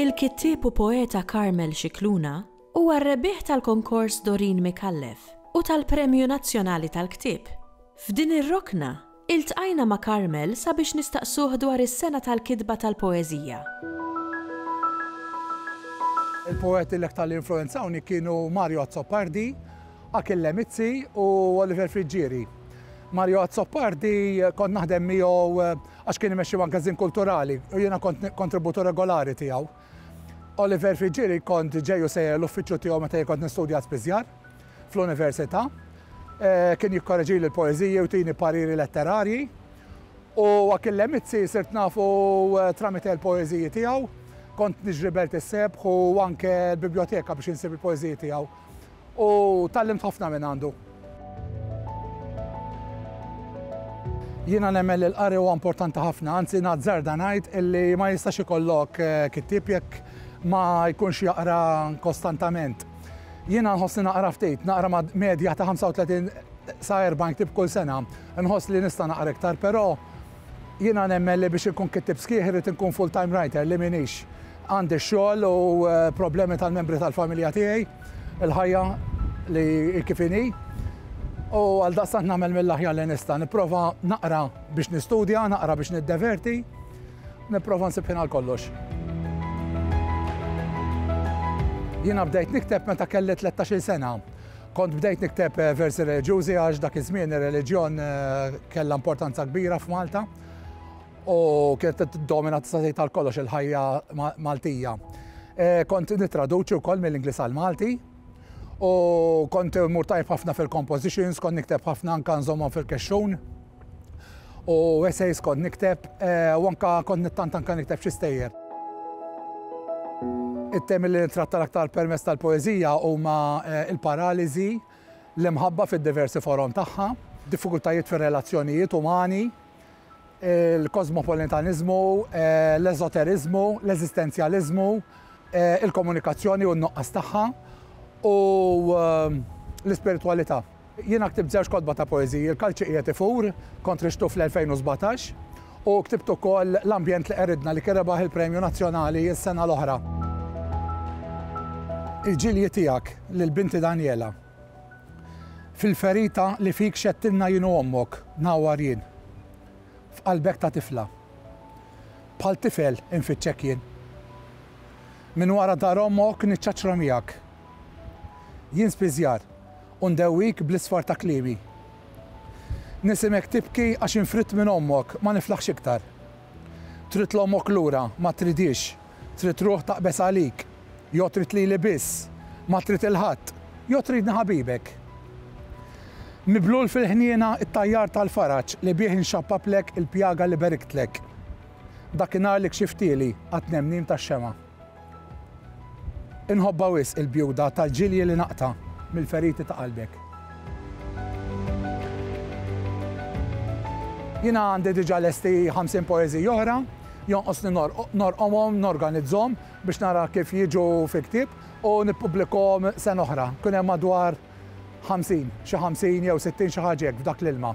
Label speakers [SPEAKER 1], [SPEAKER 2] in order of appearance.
[SPEAKER 1] Il-kittieb u poeta Carmel Scicluna huwa r-rebbieħ tal-Konkors Dorin Micallef u tal-Premju Nazzjonali tal-Ktieb. F'din ir-rokna, Iltqajna ma' Carmel sabiex nistaqsuh dwar is-sena tal-kitba tal-poeżija.
[SPEAKER 2] Il-poeti li aktar li influwenzawni kienu Mario Azzopardi, Achille Mizzi u Oliver Friggieri. Mario Azzopardi kont naħdem miegħu għax kien imexxi magażin kulturali u jiena kont kontributur regolari tiegħu. Oliver Friggieri kont ġej u sejjer l-uffiċċju tiegħu meta jien kont nistudja spiżjar fl-università. Kien jikkoreġili l-poeżiji u tini pariri letterarji. U Akil Lemizzi sirt nafu tramite l-poeżiji tiegħu. Kont niġri belt is-sebħ u anke l-bibljoteka biex insib il-poeżiji tiegħu. U tgħallimt ħafna minn għandu. Jiena nemmen li l-qari huwa importanti ħafna, anzi nazzarda ngħid illi ma jistax ikollok kittieb jekk ma jkunx jaqra kostantament. Jiena nħossni naqra ftit, naqra medja ta' 35 sa 40 ktieb kull sena. Inħoss li nista' naqra iktar, però Jiena nemmen li biex inkun kittieb sħiħ irrid inkun full-time writer li m'iniex. Għandi x-xogħol u problemi tal-membri tal-familja tiegħi, il-ħajja li hi kif inhi. U għaldaqstant nagħmel mill-aħjar li nista'. Nipprova naqra biex nistudja, naqra biex niddeverti. Nipprova nsib ħin għal kollox. Jiena bdejt nikteb meta kelli tlettax-il sena Kont bdejt nikteb versi reliġjużi għax dak iż-żmien ir-reliġjon kellha importanza kbira f'Malta u kienet tiddomina tista' tgħid għal kollox il-ħajja Maltija. Kont nittraduċi wkoll mill-Ingliż għal Malti u kont mur tajb ħafna fil-compositions, kont nikteb ħafna anke nżommhom fil-kexxun. u essays kont nikteb u anke kont nittant anke nikteb xi stejjer. It-temi li nittratta l-aktar permezz tal-poeżija huma l-paraliżi, l-imħabba fid-diversi forom tagħha, diffikultajiet fir-relazzjonijiet umani, il-kosmopolitaniżmu, l-eżoteriżmu, l-eżistenzjaliżmu, il-komunikazzjoni u n-nuqqas tagħha, u l-ispiritwalità. Jiena ktibt żewġ kotba ta' poeżiji, Il-Kalċi Qiegħed Ifur, kont riġtu fl-2017, u ktibt ukoll L-Ambjent li Qeridna li kien rebaħ il-Premju Nazzjonali s-sena l-oħra. Il-ġilji tiegħek lil binti Daniela, Fil-ferita li fik xedtilna jien u ommok, ngħawwar jien. F'qalbek ta' tifla. Bħal tifel infittxek jien. Minn wara dar ommok niċċaċċra miegħek. Jien spiżjar u ndewwik bl-isfar ta' kliemi. Nisimek tibki għax infridt minn ommok, ma niflaħx iktar. Trid 'l ommok lura, ma tridhiex, trid ruħ taqbeż għalik, jew trid lili biss, ma trid 'il ħadd, jew tridni ħabibek. Miblul fil-ħniena t-tajjar tal-faraġ li bih inxappaplek il-pjaga li beriktlek. Dakinhar li kxiftieli għat-tnemnim tax-xemgħa. Inħobbha wisq il-bjuda tal-ġilji li naqta' mill-feriti ta' qalbek. Jiena għandi diġà lesti ħamsin poeżiji oħra, jonqosni norqomhom, norganizzhom biex nara kif jiġu fi ktieb u nippubblikahom sena oħra. Kien hemm madwar ħamsin, xi ħamsin jew sittin xi ħaġa hekk f'dak l-ilma.